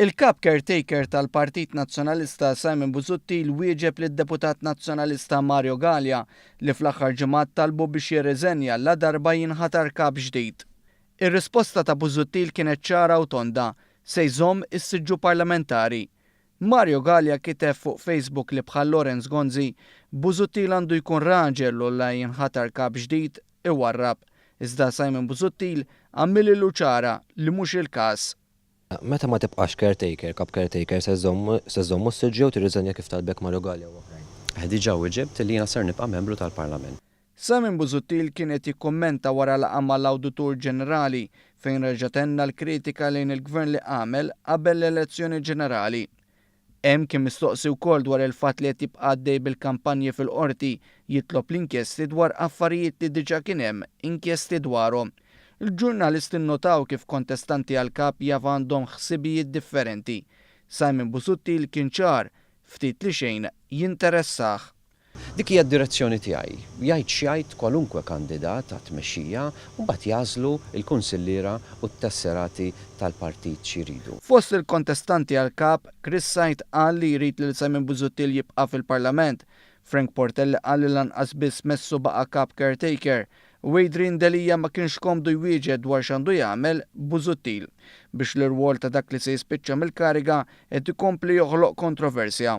Il-Kap Caretaker tal-Partit Nazzjonalista Simon Busuttil wieġeb lid-Deputat Nazzjonalista Mario Galea li fl-aħħar ġimgħat talbu biex jirriżenja ladarba jinħatar Kap ġdid. Ir-risposta ta' Busuttil kienet ċara u tonda, se jżomm is-siġġu parlamentari. Mario Galea kiteb fuq Facebook li bħal Lawrence Gonzi, Busuttil għandu jkun raġel u la jinħatar Kap ġdid iwarrab. Iżda Simon Busuttil għamililu ċara li mhux il-każ. Meta ma tibqax caretaker, kap caretaker, se żżomm ustidju jew tirriżenja kif talbek Marugalli u oħrajn? Diġa wiġibt li jiena ser nibqa' membru tal-Parlament. Simon Busuttil kien qed jikkummenta wara laqgħa mal-Awditur Ġenerali fejn reġa' tenna l-kritika lejn il-Gvern li għamel qabel l-elezzjoni ġenerali. Hemm kien mistoqsi wkoll dwar il-fatt li qed jibqa' għaddej bil-kampanji fil-Qorti, jitlob l-inkjesti dwar affarijiet li diġà kien hemm inkjesti dwarhom. Il-ġurnalist innotaw kif kontestanti għal Kap jaf għandhom ħsibijiet differenti. Simon Busuttil kien ċar, ftit li xejn jinteressah. Dik hija d-direzzjoni tiegħi, jgħid x'jgħid kwalunkwe kandidat għat-tmexxija u mbagħad jagħżlu l-kunsilliera u t-tesserati tal-partit xi jridu. Fost il-kontestanti għall-Kap, Chris Said qal li jrid lil Simon Busuttil jibqa' fil-Parlament, Frank Portelli qal li lanqas biss Messu baqa' Kap Caretaker u Adrian Delia ma kienx komdu jwieġed dwar x'għandu jagħmel Busuttil biex l-irwol ta' dak li se jispiċċa mill-kariga qed ikompli joħloq kontroversja.